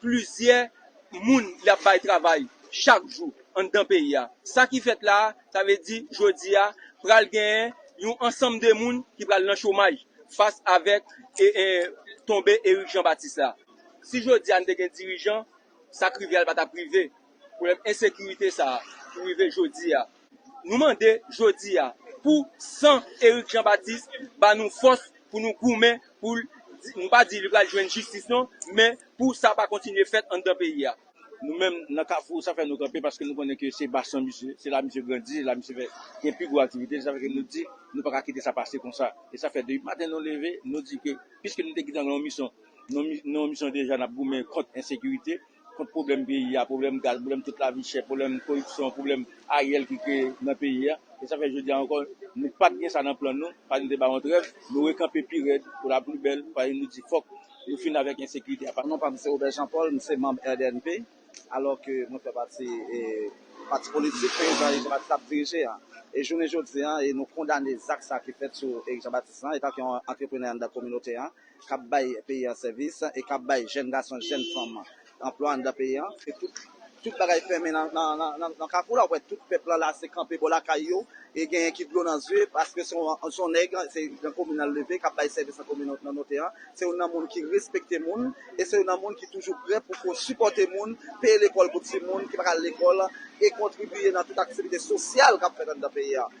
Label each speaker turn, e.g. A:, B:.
A: Plizyè moun y ap bay travay chak jou anndan peyi a. Sa ki fèt la a, sa vle di jodi a pral genyen yon ansanm de moun ki pral nan chomaj fas avèk tonbe Erik Jan Batis la. Si jodi a n te gen dirijan, sa k rive a l pa t ap rive. pwoblèm ensekirite sa a pou rive jodi a. Nou mande jodi a pou san Eric Jean Baptiste ba nou fòs pou nou goumen pou l, nou pa di li pral jwenn jistis non, men pou sa pa kontinye fèt anndan peyi a. Nou menm nan
B: Kafou sa fè nou kanpe paske nou konnen ke se basyon misye, se la misye grandi, se la misye fè gen pi gwo aktivite li, sa fè ke nou di nou pa ka kite sa pase konsa. E sa fè depi maten nou leve nou di ke piske nou te kite nan yon misyon, nou nan yon misyon deja n ap goumen kont ensekirite, Kont pwoblèm peyi ya, pwoblèm gaz, pwoblèm tout lavi chè, pwoblèm koripsyon, pwoblèm Ariel ki kreye nan peyi ya. E sa fè jodi ya ankò nou pat gen sa nan plan nou, paske nou te ba yon trèv, nou rekanpe pi rèd pou la pli bèl, paske nou di fòk nou fin avèk ensekirite ya. Non pa m se Robert Jean
C: Paul, m se manb RDNP, alò ke mwen fè pati pati politik prezidan Eric Jean Baptiste ap dirije ya. E jounen jodi ya e nou kondane zak sa ki fèt sou Eric Jean Baptiste lan etan ke yon antreprenè anndan kominote ya. k ap bay peyi an sèvis e k ap bay jèn gason, jèn fanm anplwa anndan peyi an. E tout tout bagay fèmen nan kafou la, w wè tout pèp lan lase kanpe bò lakay yo e genyen ki dlo nan zye paske se yon nèg, se nan komin nan l leve k ap bay sèvis nan kominote an. Se yon nan moun ki respekte moun e se yon nan moun ki toujou prè pou ko sipòte moun, peye lekòl pou timoun ki pa ka al lekòl e kontribiye nan tout aktivite sosyal k ap fèt anndan peyi an.